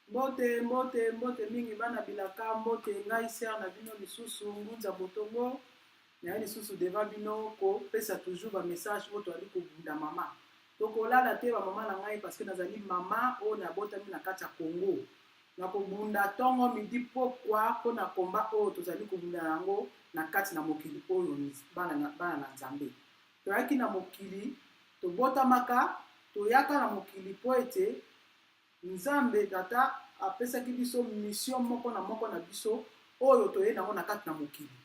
mbote mbote mbote mingi bana bilaka mbote ngai ser na bino lisusu ngunza botongo naye lisusu deva bino kopesa toujours bamessage oyo toyali kobunda mama tokolala te bamama na ngai parceke nazali mama oyo nabotami na kati ya congo na kobunda ntongo midi mpokwa mpo na komba oyo tozali kobunda na yango na kati na mokili oyo bana na, bana na nzambe toyaki na mokili tobotamaka toyaka na mokili mpo ete nzambe tata apesaki biso misio moko na moko na biso oyo toyei nango na kati na mokili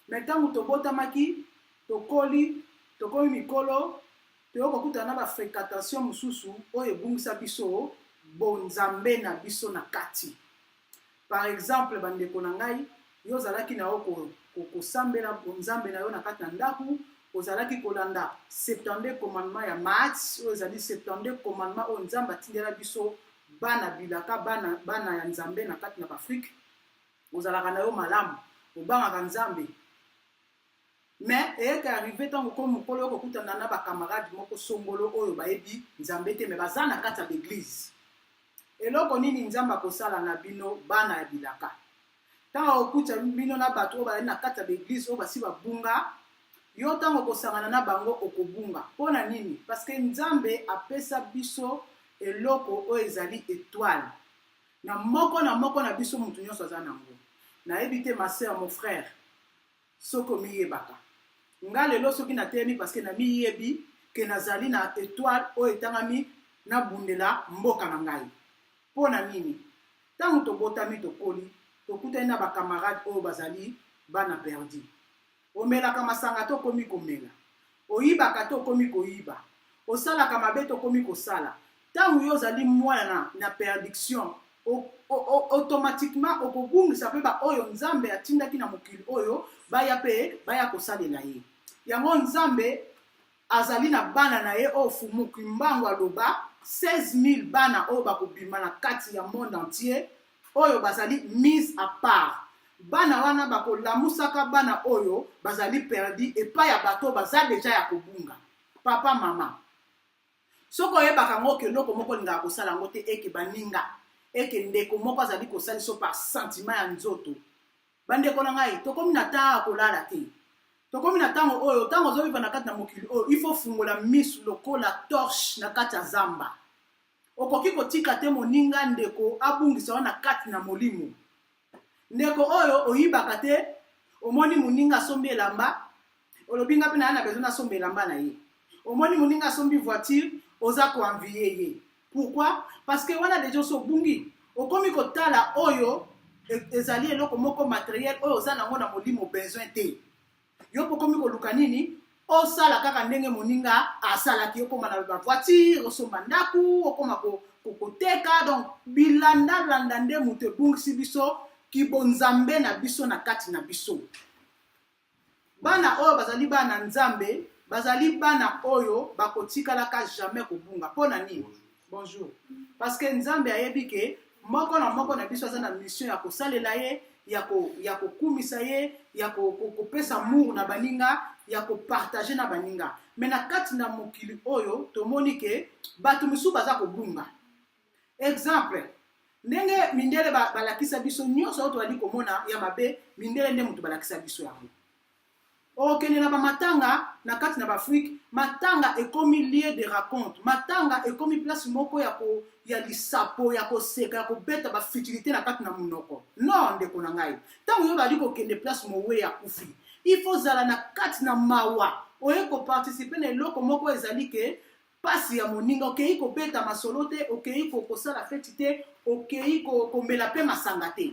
me ntango tobotamaki tokoli tokomi mikolo toyo kokutana na bafrequentation mosusu oyo ebungisa biso bonzambe na biso na kati par exemple bandeko na ngai yo ozalaki na yo kosambela bonzambe na yo na kati na ndako ozalaki kolanda 72 commandement ya mats oyo ezali 72 commandement oyo nzambe atindela biso bana bilaka bana, bana ya nzambe na kati na baafrike ozalaka na yo malamu obangaka nzambe mais eyeke arrive ntango ko mokolo yo kokutana na bacamarade moko songolo oyo bayebi nzambe te me baza na kati ya baeglize eloko nini nzambe akosala na bino bana ya bilaka ntango okutisa bino na bato oyo bazali na kati ya baeglize oyo basi babunga yo ntango okosangana na bango okobunga mpo na nini parce que nzambe apesa biso eloko oyo ezali etoile Na moko na moko na biso mutu nionso aza nango. Nayebi te ma sœur, mon frère, soki omiyebaka. Nga lelo soki nateyemi parce que namiyebi que nazali na etoile oyo etangami nabundela mboka na ngai. Po na nini? Tango tobotami tokoli tokutani na ba camarades oyo bazali bana perdu. Omelaka masanga to komi komela. Oyibaka to komi koyiba. Osalaka mabe to komi kosala. Tango yo ozali mwana na perdiction, automatiquement okobungisa pe ba oyo Nzambe atindaki na mokili oyo baya pe baya kosalela ye. Yango Nzambe Azali na bana na ye oyo Fumu Kimbangu aloba 16000 bana oyo bakobima na kati ya monde entier oyo bazali mise à part. Bana wana bakolamusaka bana oyo bazali perdu epai ya bato oyo baza deja ya kobunga. Papa, mama, soki oyebaka yango oke eloko moko olingaka kosala yango te eke baninga eke ndeko moko azali kosalisa par sentiment ya nzoto bandeko na ngai tokomi na ntango ya kolala te tokomi na ntango oyo ntango ozoviva na kati na mokili oyo il faut fungola misu lokola torche na kati ya zamba okoki kotika te moninga ndeko abungisa yo na kati na molimo ndeko oyo oyibaka te omoni moninga asombi elamba olobi nga mpe naye na besoin nasomba elamba na ye omoni moninga asombi voiture oza koenvie ye pourquoi parce que wana deja osi obungi okomi kotala oyo e, ezali eloko moko materiel oyo oza nango na molimo besoin te yo mpe okomi koluka nini osala kaka ndenge moninga asalaki okoma na bavoitire osomba ndako okoma koteka donc bilandalanda nde moto ebungisi biso kibonzambe na biso na kati na biso Bana oyo bazali bana na Nzambe bazali bana oyo bakotikalaka jamais kobunga. Mpo na nini? Bonjour. Parce que Nzambe ayebi ke moko na moko na biso aza na mission ya kosalela ye ya kokumisa ye ya kopesa mur na baninga ya kopartage na baninga me na kati na mokili oyo tomoni ke bato mosusu baza kobunga exemple ndenge mindele balakisa biso nyonso oyo tozali komona ya mabe mindele nde moto balakisa biso yango okende na bamatanga na kati na baafrike matanga ekomi lieu de raconte matanga ekomi place moko ya, ko, ya lisapo ya koseka ya kobeta bafutilité na kati na monoko no ndeko na ngai ntango yo bali kokende place mowe ya kufi ifo ozala na kati na mawa oye koparticipe na eloko moko ezali ke pasi ya moninga okei kobeta masolo te okei kosala feti te okei komela mpe masanga te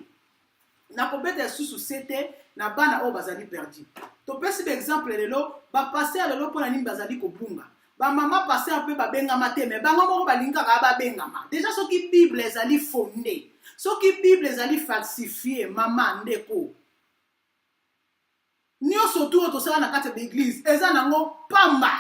na kobeta lisusu se te na bana oyo bazali perdu topesi baexemple lelo bapaster lelo mpo na nini bazali kobunga bamama paster mpe babengama te me bango moko balingaka babengama deja soki bible ezali fonde soki bible ezali falsifie mama ndeko nyonso tu oyo tosala na kati ya baeglize eza nango pamba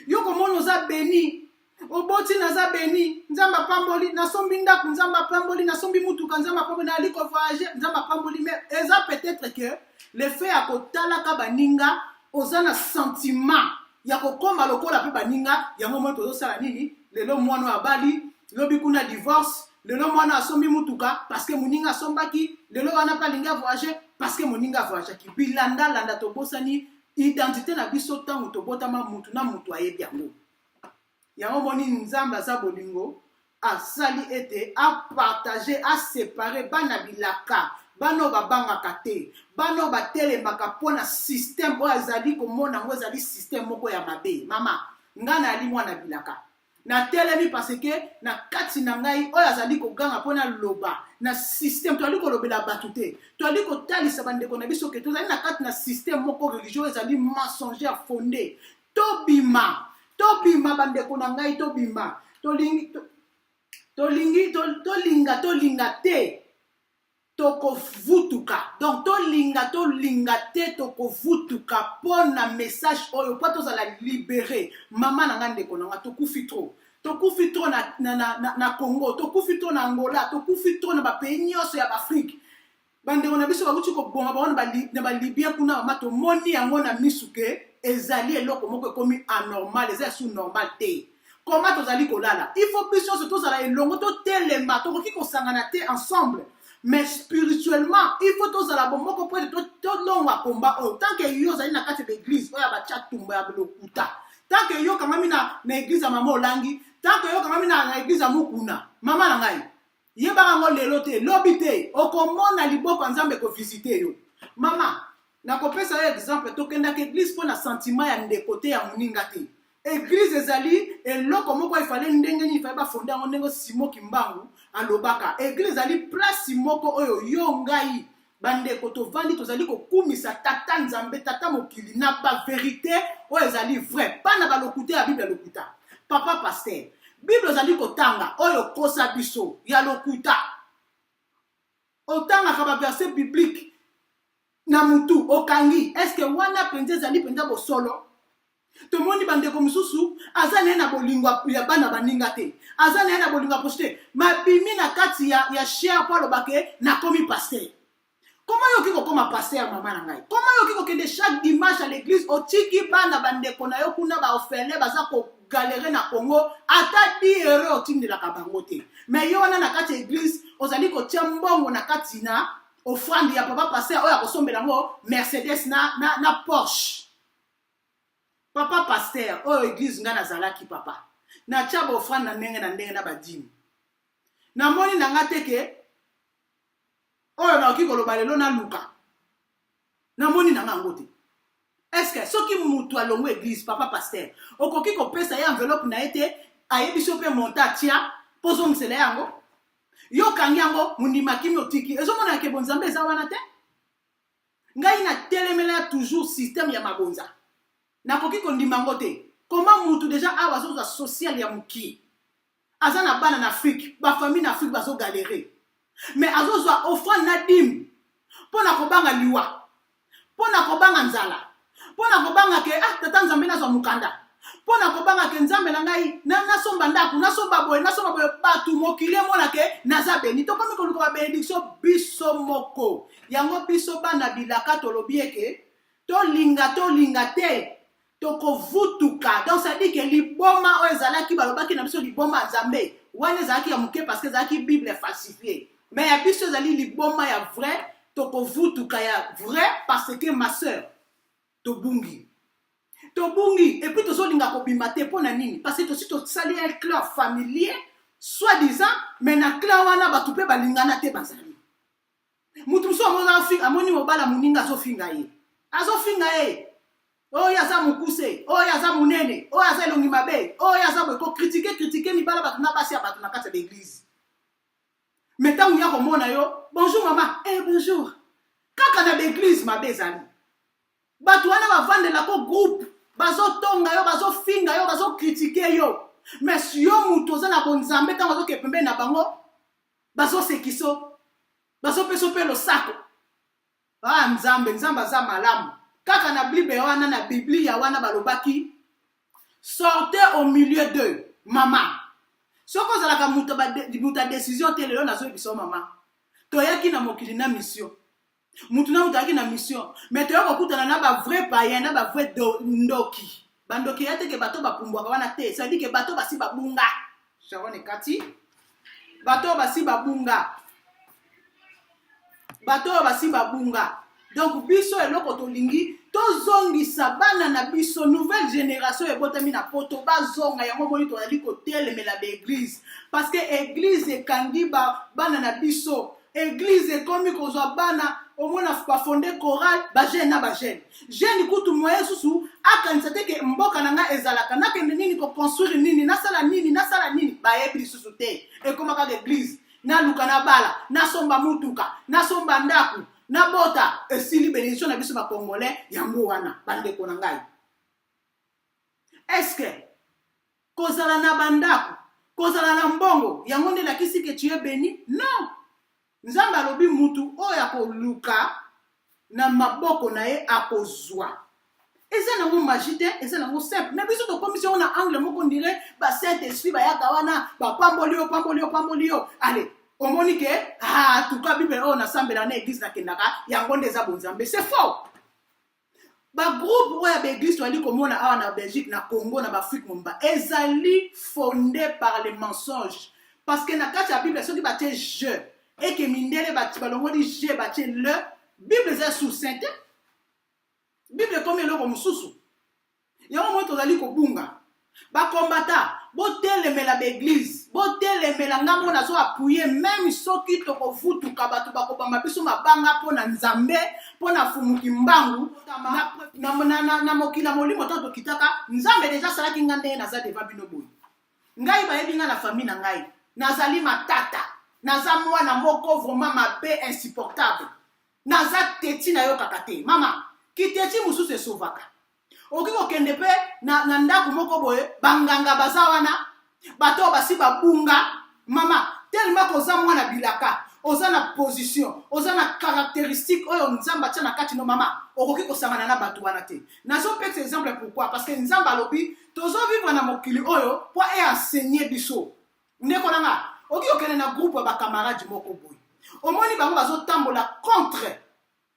yo komona oza beni oboti naza beni nzambe apamboli nasombi ndako nzambe apamboli nasombi motuka nzambe apamboli nayali kovoyage nzambe apamboli me eza peut-être que le fait ya kotalaka baninga oza na sentiment ya kokoma lokola mpe baninga yango moi tozosala nini lelo mwana oyo abali lobi kuna divorce lelo mwana asombi motuka parce que moninga asombaki lelo wana mpe alingi avoyage parce que moninga avoyageaki bilandalanda tobosani identité na biso ntango tobotama motu na motu ayebi yango yango omoni nzambe aza bolingo asali ete apartage asepare bana bilaka bana oyo babangaka te bana oyo batelemaka mpo na systeme oyo azali komona yango ezali systeme moko ya mabe mama ngai nayali mwana bilaka natelemi paseke na kati na ngai oyo azali koganga mpo naloba na systeme toyali kolobela bato te toyali kotalisa bandeko na biso ke tozali na kati na systeme moko religio oyo ezali mensongère fonde tobima tobima bandeko na ngai tobima tolingi tolingi tolinga tolinga te tokovutuka donc tolinga tolinga te tokovutuka mpo na message oyo mpo tozala libere mama na nga ndeko na nga tokufi trop tokufi trop na, na, na, na, na congo tokufi trop na angola tokufi trop na bapays nyonso ya baafrike bandeko na biso bakuti koboma bango na balibia kuna mama tomoni yango na misu ke ezali eloko moko ekomi anormal eza ya su normal te koma tozali kolala il faut biso nyonso tozala elongo totelema tokoki kosangana te ensemble mais spirituellement il faut tozala bomoko mpo ete tolongwa komba oyo tant que yo ozali na kati ya baeglise oyo abatya tumba ya lokuta tant que yo okangami na, na eglise ya mama olangi tant que yo okangami na, na eglise ya mokuna mama na ngai yebaka yango lelo te lobi te okomona liboko ya nzambe ekovisite yo mama nakopesa yo exemple tokendaka eglise mpo na sentiment ya ndeko te ya moninga te eglise ezali eloko moko efale ndenge nini efale bafonde yango ndenge simo kimbangu alobaka eglise ezali place moko oyo yo ngai bandeko tovandi tozali kokumisa tata nzambe tata mokili na baverité oyo ezali vrai mpa na balokuta ya biblia lokuta papa paster bible ozali kotanga oyo okosa biso ya lokuta otangaka baverse biblique na mutu okangi eske wana mpenza ezali mpenza bosolo tomoni bandeko mosusu aza na ye na bolingo ya bana baninga te aza na ye na bolingo ya posi te mabimi na kati ya, ya sher mpo aloba ke nakomi paster koma yo okoki kokoma paster ya mama na ngai koma yo okoki kokende chaque dimanche à l'église otiki bana bandeko na yo kuna baofele baza kogalere na congo ata di euro otindelaka bango te me yo wana na kati ya eglise ozali kotya mbongo na kati na ofrande ya papa paster oyo akosombela yango mercedes na, na, na porsche papa pasteur oyo eglise ngai nazalaki papa natya baofrande na ndenge na ndenge na badimi namoni na ngai te ke oyo nakoki koloba lelo naluka namoni na ngai yango te estce soki moto alongwe eglise papa pasteur okoki kopesa ye enveloppe na ye te ayebi so mpe monta atya mpo ozongisela yango yo okangi yango mondima kimi otiki ezomonana ke bonzambe eza wana te ngai na telemela toujours système ya mabonza nakoki kondima yango te koma mutu deja awa azozwa social ya mokie aza na bana na afrike bafamille na afrike bazogalere me azozwa offrande na dime mpo na kobanga liwa mpo na kobanga nzala mpo na kobanga ke ah tata nzambe nazwa mokanda mpo na kobanga ke nzambe na ngai nasomba ndako nasomba boye nasomba boye bato mokili emona ke naza beni tokomi koluka babenediktio biso moko yango biso bana bilaka tolobi eke tolinga tolinga te tokovutuka donc cetadi ke liboma oyo ezalaki balobaki na biso liboma ya nzambe wana ezalaki ya moke parce que ezalaki bible falsifie mais ya biso ezali liboma ya vrai tokovutuka ya vrai parce que ma sœur tobungi tobungi epuis tozolinga kobima te mpo na nini parce tosi tosali un clan familier soit disant mais na clan wana bato mpe balingana te bazali moto mosusu yango amoni mobala moninga azofinga ye azofinga ye oyo aza mokuse oyo aza monene oyo aza elongi mabe oyo aza boye kokritike kritike mibala bato na basi ya bato na kati ya baeglize mais ntango ya komona yo bonjour mama e eh, bonjour kaka na baeglise mabe ezali bato wana bavandelako groupe bazotonga yo bazofinga yo bazokritike yo mais yo moto oza na bonzambe ntango azoke pembeni na bango bazosekiso bazopeso mpe losako Ah, Nzambe, Nzambe aza malamu. Kaka na Bible wana na Biblia wana balobaki sortez au milieu d'eux. Mama. Soko ozalaka moto moto ya décision te lelo nazoyebisa yo mama. Toyaki na mokili na mission. Moto na moto ayaki na mission, mais toyaki kokutana na ba vrai païen na ba vrai ndoki. bandoki ya teke bato bapumbwaka wana te cestadi ke bato basi babunga sharon ekati bato basi babunga bato oyo basi babunga donc biso eloko tolingi tozongisa bana na biso nouvelle génération ebotami na poto bazonga yango moni tozali kotelemela baeglise parce que eglise ekangi bana na biso eglise ekomi kozwa bana omona bafonde chorale bagene na bagene gene kutu moye susu akanisa te ke mboka na ngai ezalaka nakende nini koconstruire nini nasala nini nasala nini bayebi lisusu te ekoma kaka eglise naluka nabala nasomba motuka nasomba ndako nabota esili benediction na biso bacongolais yango wana bandeko na ngai eske kozala na bandako kozala na mbongo yango nde elakisi ke tu es beni non nzambe alobi mutu oyo akoluka na maboko na ye akozwa eza nango magie te eza nango simple me biso tokomisi yango na angle moko ndire ba saint esprit bayaka wana bapamboli yo pamboli yo pamboli yo ale omoni ke ah, tuka bible oyo nasambela na eglise nakendaka yango nde eza bonzambe c'est faux bagroupe oyo ya baeglise toyandi komona awa na belgique na congo na baafrike momba ezali fonde par le mensonge parce que na kati ya bible soki batie je eke mindele balongoli je batie le bible eza sucinte bible ekomi eloko mosusu Yango moi tozali kobunga. Ba kombata, botelemela ba eglise, botelemela nga mona zo appuye meme soki tokovutuka bato bakobamba biso mabanga mpo na Nzambe, mpo na fumu kimbangu na, na, na, na, na mokili ya molimo ntango tokitaka Nzambe deja asalaki nga ndenge naza deva bino boye. Ngai bayebi nga na famille na ngai, nazali matata, naza mwana moko vraiment mabe insupportable naza teti nayokaka te mama kiteti mosusu esovaka okoki kokende mpe na, na ndako moko boye banganga baza wana bato oyo basi babunga mama telema koza mwana bilaka oza na position oza na caractéristique oyo nzambe atya na kati no mama okoki kosangana na bato wana te nazopesa exemple pourquoi parce que nzambe alobi tozovivre na mokili oyo mpo e enseigner biso ndeko na nga oki okende na groupe ya bakamarade moko boye omoni bango bazotambola contre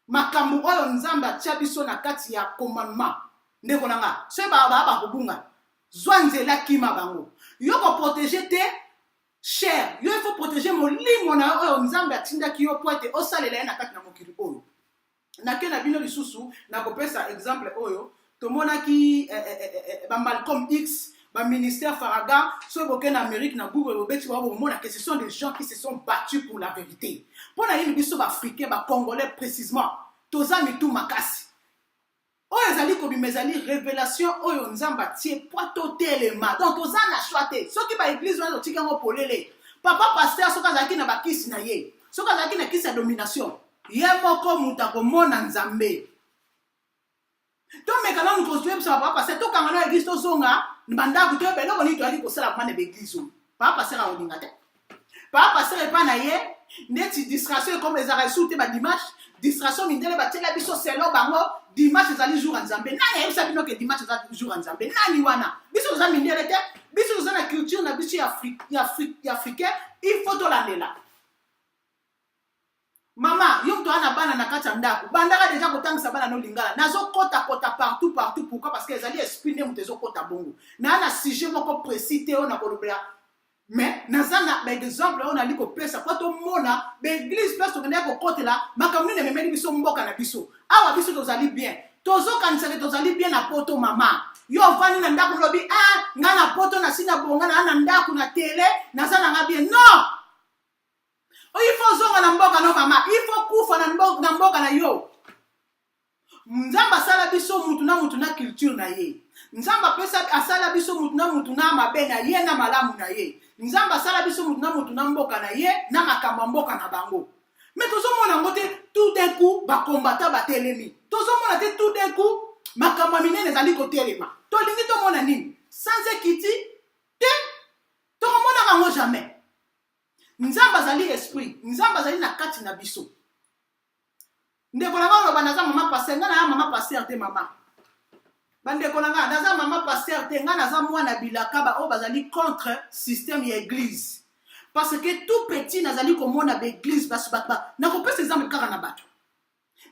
makambo oyo nzambe atya biso na kati ya commandement ndeko na nga soki baa bakobunga zwa nzela kima bango yo koprotege te cher yo ifo protege molimo na yo oyo nzambe atindaki yo mpo ete osalela ye na kati na mokili oyo nake na bino lisusu nakopesa exemple oyo tomonaki eh, eh, eh, eh, eh bamalcom x baministère faraga soki boke na amérique na google bobeti bango bokomona que ce sont des gens qui se sont battus pour la vérité mpo na nini biso baafricain bacongolais précisement toza mitu makasi oyo ezali kobima ezali revelation oyo nzambe atie mpo totelema donc toza na choix te soki baeglise wana totiki yango polele papa paster soki azalaki na bakisi na ye soki azalaki na kisi ya domination ye moko moto akomona nzambe tomeka nanu koyebisa papa paster tokanga na eglise tozonga bandako toyeba eloko nini toyaki kosala mwana baeglise oyo papa paster akolinga te papa pasteur epa na ye neti distraction ekoma ezalaka lisusu te badimanche distraction mindele batiela biso selo bango dimanche ezali jour ya nzambe nani ayebisa bino ke dimanche eza jour ya nzambe nani wana biso toza mindele te biso toza na culture na biso ya africain il faut tolandela mama yo moto aza na bana na kati ya ndako bandaka deja kotangisa bana no lingala nazokota kota partout partout pourquoi parce que ezali esprit nde moto ezokota bongo naa na sujet moko précis te oyo nakolobela mais naza na baexemple oyo nali kopesa mpo tomona baeglise place tokendaki kokotela makambo nini ememeli biso mboka na biso awa biso tozali bien tozokanisa ke tozali bien na poto mama yo ofandi na ndako olobi a ah, ngai na poto nasi na bonga naa na ndako na tele naza na ngai bien non Oh, il faut zonga na mboka no mama il faut kufa na mboka na, mboka na yo nzambe asala biso mutu na mutu na culture na ye nzambe apesa asala biso mutu na mutu na mabe na ye na malamu na ye nzambe asala biso mutu na mutu na mboka na ye na makambo ya mboka na bango me tozomona yango te tout d'un coup bakombata batelemi tozomona te tout d'un coup makambo ya minene ezali kotelema tolingi tomona nini sans ekiti te tokomonaka yango jamais Nzambe azali esprit, Nzambe azali na kati na biso. Ndeko na oloba naza mama pasteur, nga na mama pasteur te mama. Bandeko na nga naza mama pasteur te, nga naza mwana bilaka ba oyo bazali contre système ya église. Parce que tout petit nazali komona ba église basu bato ba nakopesa exemple kaka na bato.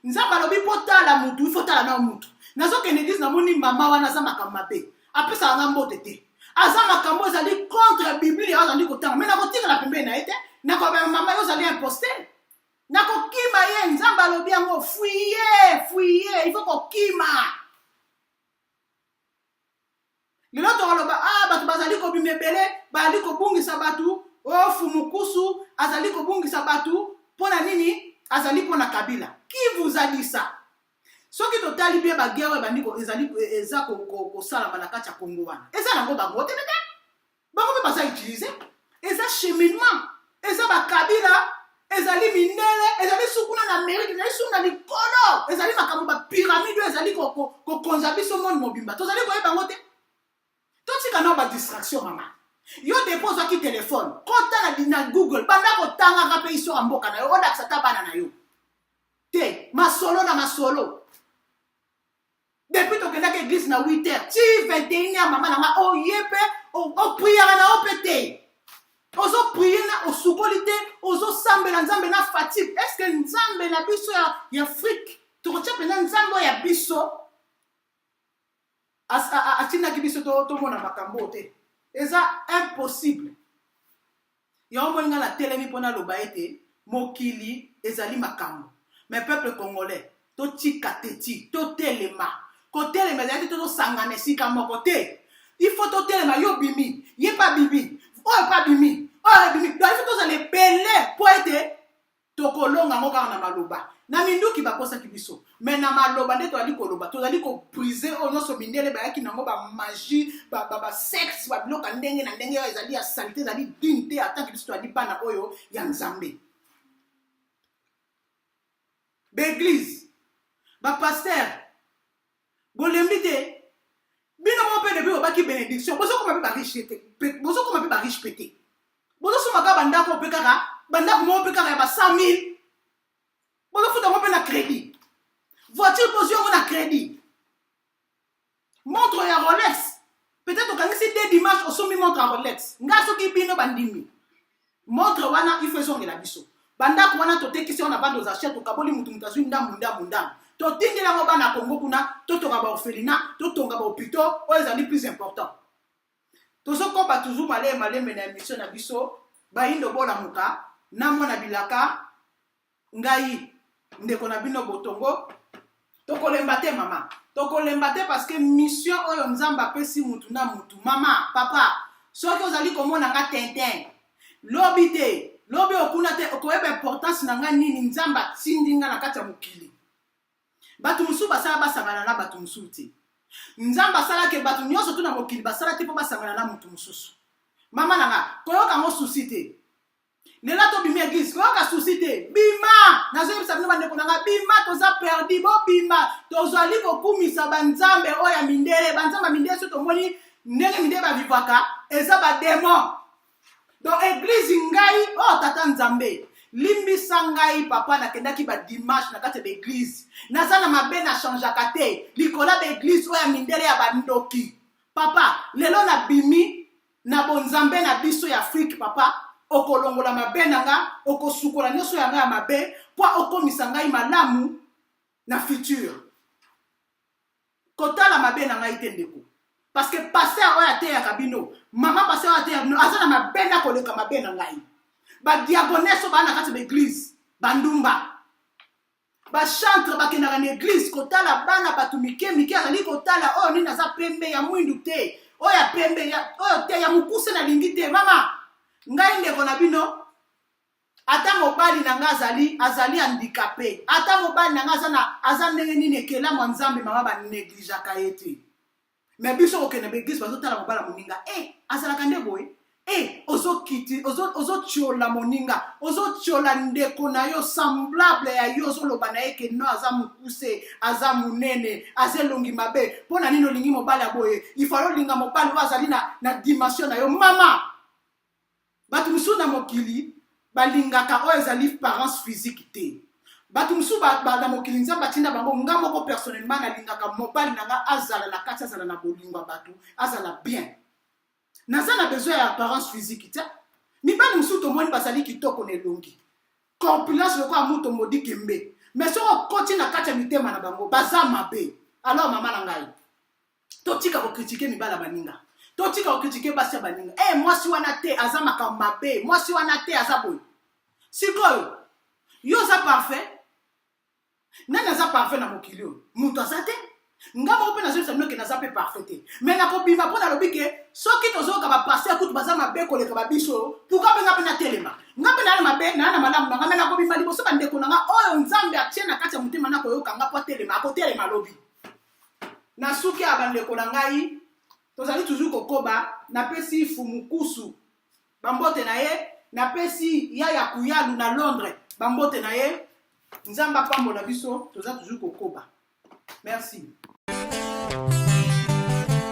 nzambe alobi mpo tala mutu ifo tala na mutu nazokende eglise namoni mama wana aza makambo mabe apesaka nga mbote te aza makambo ezali contre biblia azali kotanga me nakotikala pembeni na ye te nakobema mama yo ozali imposte nakokima ye nzambe alobi yango fuye fuye ifo kokima lelo tokoloba a ah, bato bazali kobima ebele bazali kobungisa bato o oh, fumukusu azali kobungisa bato mpo na nini azali mpo na kabila qui vous a dit ça soki totali bie bagere ebandi ezali eza kosalama na kati ya kongo wana eza nango bango te bango mpe baza utilise eza cheminement eza bakabila ezali mindele ezali sukuna na amerike ezali suku na likolo ezali makambo bapiramide oyo ezali kokonza biso moni mobimba tozali koyeba yango te totika nao badistraction mama yo depo ozwaki telefone kotala na google banda kotangaka mpe histoire ya mboka na yo olakisa ata bana na yo te masolo na masolo depuis tokendaki eglise na 8 heures ti 21 heures mama na nga oye oh, mpe opriere oh, oh, na yo mpe te ozoprie na osukoli te ozosambela nzambe na fatigue est ce que nzambe na biso ya, ya afrique tokotya mpenza nzambe oyo ya biso atindaki biso tomona makambo oyo te eza impossible Yango moni nga na telemi pona loba ete mokili ezali makambo. Mais peuple congolais to tika teti to telema. Ko telema ezali te to sangana esika moko te. Il faut to telema yo bimi, ye pa bimi, oyo pa bimi, oyo bimi. Donc il faut to zala ebele po ete tokolonga yango kaka na maloba na minduki bakosaki biso me na maloba nde tozali koloba tozali kobrise oyo nyonso mindele bayaki nango bamagie basexe babiloka ndenge na ndenge oyo ezali ya salite ezali dine te atanke biso tozali bana oyo ya nzambe baeglise bapaster bolembi te bino moko mpe depuis obaki benediction bozokoma mpe bariche te bozokoma mpe bariche mpe te bozosomba kaka bandako mpe kaka bandako moko mpe kaka ya ba 100 000 bozofuta yango mpe na crédit voiture bozwi yango na crédit montre ya rolex peut-être okangisi de dimanche osombi montre ya rolex ngai soki bino bandimi Montre wana il faut ezongela biso. Bandako wana totekisi yango na bande aux achats, tokaboli mutu mutu azwi ndambu ndambu ndambu. Totindeli yango bana ya Congo kuna, totonga ba orphelinat, totonga ba hopitaux oyo ezali plus important. Tozokoba toujours malembe malembe na emission na biso Bayindo bolamuka na mwana bilaka ngai ndeko na bino botongo tokolemba te mama tokolemba te parce que mission oyo nzambe apesi mutu na mutu mama papa soki ozali komona nga tintin lobi te lobi okuna te okoyeba importance na nga nini nzambe atindi nga na kati ya mokili bato mosusu basala basangana na bato mosusu te nzambe asalaki bato nyonso tu na mokili basala te mpo basangana na moto mosusu mama na nga koyoka yango susi te lela tobimi eglise koyoka susi te bima nazoyebisa bino bandeko na ngai bima toza perdi bobima tozali kokumisa banzambe oyo ya mindele banzambe ya mindele so tomoni ndenge mindele bavivaka eza bademo donc eglise ngai o oh, tata nzambe limbisa ngai papa nakendaki badimanche na kati ya baeglise naza na mabe na changeaka te likolo ya baeglise oyo ya mindele ya bandoki papa lelo nabimi na bonzambe na biso ya afrike papa okolongola mabe na nga okosukola nyonso ya nga ya mabe mpo okomisa ngai malamu na future kotala mabe na ngai te ndeko parce que paster oyo ateyaka bino mama paster oyo ateyaka bino aza na mabe na koleka mabe na ngai badiagoneso baa na kati ya baeglize bandumba bachantre bakendaka na eglise kotala bana bato mike mike azali kotala oyo oh, nini aza pembe ya mwindu te oyo oh, ya pembe oyo oh, te ya mokuse nalingi te mama ngai ndeko na bino ata mobali na ngai azali azali handikape ata mobali na ngai aza ndenge nini ekelamu ya nzambe mama banegligeaka ye te me biso kokende ba eglise bazotala mobala moninga e eh, azalaka nde boye e eh, ozokiti ozotiola moninga ozotiola ndeko na yo semblable ya yo ozoloba na ye ke no aza mokuse aza monene aza elongi mabe mpo na nini olingi mobali ya boye ifale olinga mobali oyo azali na, na dimension na yo mama bato mosusu na mokili balingaka oyo ezali parence physique te bato mosusu na mokili nzambe atinda bango nga moko personnellement nalingaka mobali na nga azala na kati azala na bolingo ya bato azala bien naza na besoin ya apparence physique te mibali mosusu tomoni bazali kitoko na elongi corpulence lokola moto modi kembe mais soki okoti na kati ya mitema na bango baza mabe alors mama na ngai totika kokritike mibala baninga totika kokritike basi ya baninga e mwasi wana te aza makambo mabe mwasi wana te aza boye sikoyo yo oza parfait nani aza parfait na mokili oyo moto aza te nga moko mpe nazoyebisa bino ke naza mpe parfait te mai nakobima mpo nalobi ke soki tozoyoka bapaster kutu baza mabe koleka babiso pourkui mpe nga mpe natelema nga mpe naa na mabe naa na malamu na nga mai nakobima liboso bandeko na nga oyo nzambe atie na kati ya motema nakoyoka nga mpo atelema akotelema lobi na suki ya bandeko na ngai tozali toujours kokoba napesi fumukusu bambote na ye napesi ya ya kuyalu na londres bambote na ye nzambe apambola biso toza toujours kokoba merci